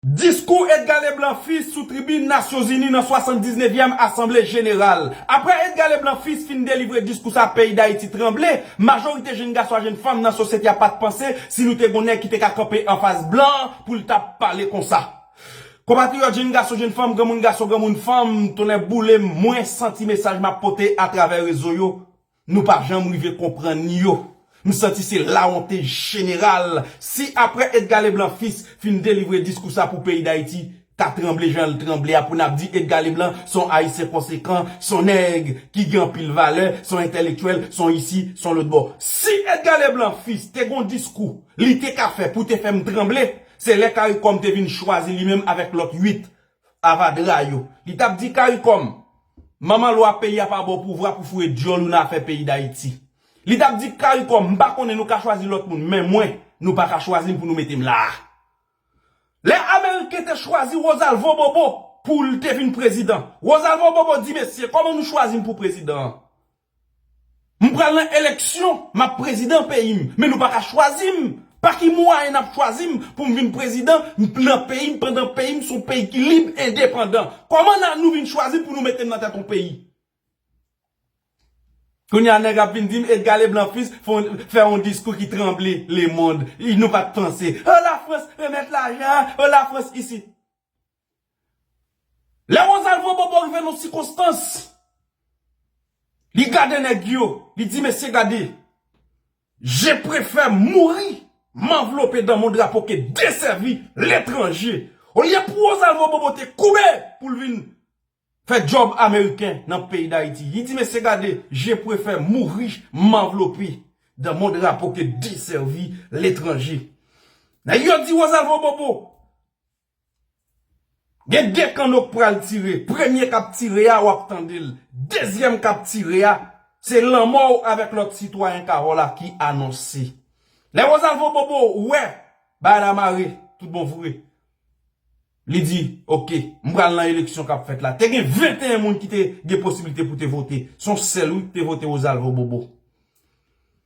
Diskou Edgar Leblanc Fils sou tribin Nasyon Zini nan 79 yèm Asanble Jeneral. Aprè Edgar Leblanc Fils fin delivre diskou sa peyi Dayiti tranble, majorite jenn gason a jenn fanm nan sosyete a pat panse si nou te gon nèg ki te ka kanpe anfas blan pou l ta pale konsa. Konpatriyòt jenn gason jenn fanm granmoun gason granmoun fanm tonnè boule m mwen santi mesaj m ap pote atravè rezo yo Nou pa janm rive konprann yo. M santi se lawonte jeneral. Si aprè Edgar Leblanc Fils fin delivre diskou sa pou peyi Dayiti ta tranble jan l tranble a pou n ap di Edgar Leblanc s on Ayisyen konsekan, s on nèg ki gen anpil valè, s on entèlektyèl, s on isi, s on lotbò. Si Edgar Leblanc Fils te gon diskou li te ka fè pou te fè m tranble, se lè caricom te vin chwazi li menm avèk lòt 8 Avadra yo. Li tap di caricom. Manman lwa peyi a pa baw pouvwa pou fouye dyol ou nan afè peyi dayiti. Li tap di caricom m pa konnen nou ka chwazi lot moun men mwen nou pa ka chwazim pou nou metem la a. Lè ameriken te chwazi Rosalvo Bobo poul te vin prezidan. Rosalvo Bobo di mesye koman nou chwazim pou prezidan an. M pral nan eleksyon map prezidan peyim men nou paka chwazim pa ki mwayen nap chwazim poum vin prezidan nan peyim pandan peyim son peyi ki lib endepandan kòman na nou vin chwazim pou nou metem nan tèt on peyi kounya nèg ap vin dim Edga Leblanc fils fon fè on diskou ki tranble lemond nou pat panse oh la France remèt lajan oh la France isit. Lè Rosalvo Bobo rive nan sikonstans, li gade nèg yo, li di mesye gade, je prefè mouri manvlope dan mon drapo ke desèvi letranje. Olye pou Rosalvo Bobo te koube pou l vin fè djòb ameriken nan peyi Dayiti, li di mesye gade, je prefè mouri manvlope dan mon drapo ke desèvi letranje. Nèg yo di Rosalvo Bobo, Gen 2 kanno k pral tire, premye kap tire a wap tande l, dezyèm kap tire a se lanmò w avèk lòt sitwayen Cahò la ki anonse. Lè Rosalvo Bobo wè bagay la mare tout bon vre, li di ok m pral nan eleksyon kap fèt la. Te gen 21 moun ki te gen posiblite pou te vote, son sèl wi k te vote Rosalvo Bobo.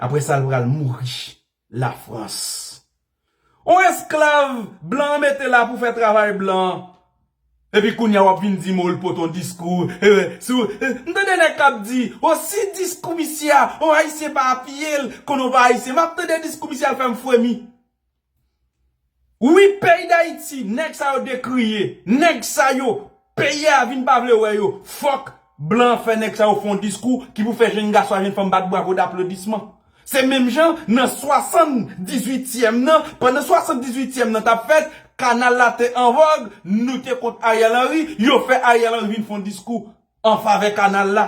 Apre sa l pral mouri la frans. On esklav blan an mete la pou fè travay blan an. Epi kounya wap vin di mo l pot on diskou ee si w m tande nèg kap di o si diskou misye a on ayisyen pa apiye l konn on pa ayisyen map tande diskou misye a l fè m fremi. Wi peyi dayiti nèg sa yo dekriye nèg sa yo peyi a vin pa vle wè yo fòk blan an fè nèg sa yo fè yon diskou ki pou fè jenn gason ak jenn fanm bat bravo daplodisman se menm jan nan 78 tièm nan pandan 78 tièm nan tap fèt kanal la te anvòg nou te kont Ariel Henry yo fè Ariel Henry vin fè yon diskou an favè kanal la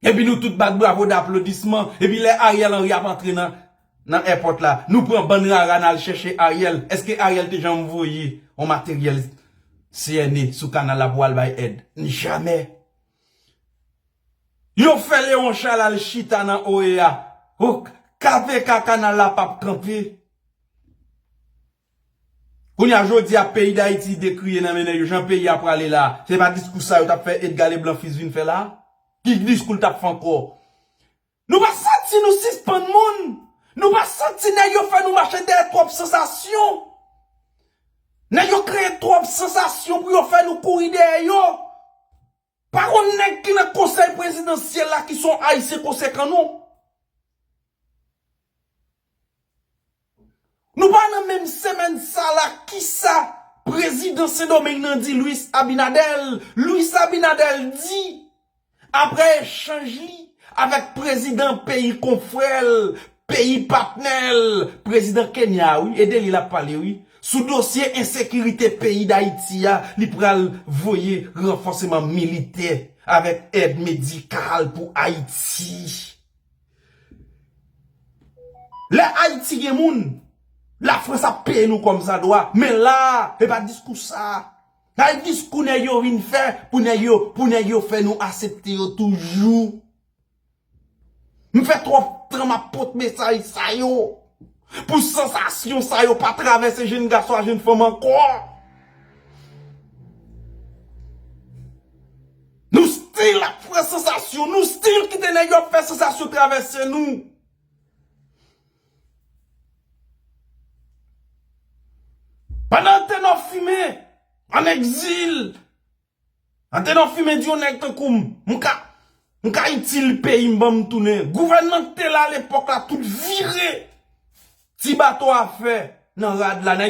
epi nou tout bat bravo de aplodisman epi lè Ariel Henry ap antre nan nan èpòt la nou pran bann rara nal chèche Ariel eske Ariel te janm voye yon materyèl CNE sou kanal la pou al bay èd ni jamè yo fè Leon Charles al chita nan OEA ok KPK kanal la pap kanpe. Kounye a jodi a peyi dayiti dekriye nan men nèg yo jan peyi a prale la se pa diskou sa yo tap fè Edga Leblanc fils vin fè la ki diskou l tap fè ankò nou pa santi nou sispann moun nou pa santi nèg yo fè nou mache dèyè twòp sansasyon nèg yo kreye twòp sansasyon pou yo fè nou kouri dèyè yo. Pa konn nèg ki nan konsèy prezidansyèl la ki son ayisyen konsekan non. Nou pa nan menm semèn sa la kisa prezidan sendomeng nan di Luis Abinader, Luis Abinader di aprè echanj li avèk prezidan peyi konfrèl Peyi patnè l, prezidan Kenya a wi, e de li l ap pale wi. Sou dosye ensekirite peyi Dayiti a, li pral voye ranfòseman militè avèk èd medikal pou Ayiti. Lè Ayiti gen moun, Lafrans ap peye nou kòmsadwa, men la a, e pa diskou sa a. Gade diskou nèg yo vin fè pou nèg yo, pou nèg yo fè nou asepte yo toujou. M fè twòp tan map pot mesaj sa yo pou sansasyon sa yo pa travèse jenn gason a jenn fanm ankò. Nou stil ap fè sansasyon, nou stil kite nèg yo ap fè sansasyon travèse nou. Pandan te nò fimen, an egzil. Andedan fimen di yon nèg tankoum m ka m ka itil peyim banm tounen gouvènman ki te la lepòk la tout vire ti bato afè nan rad la nèg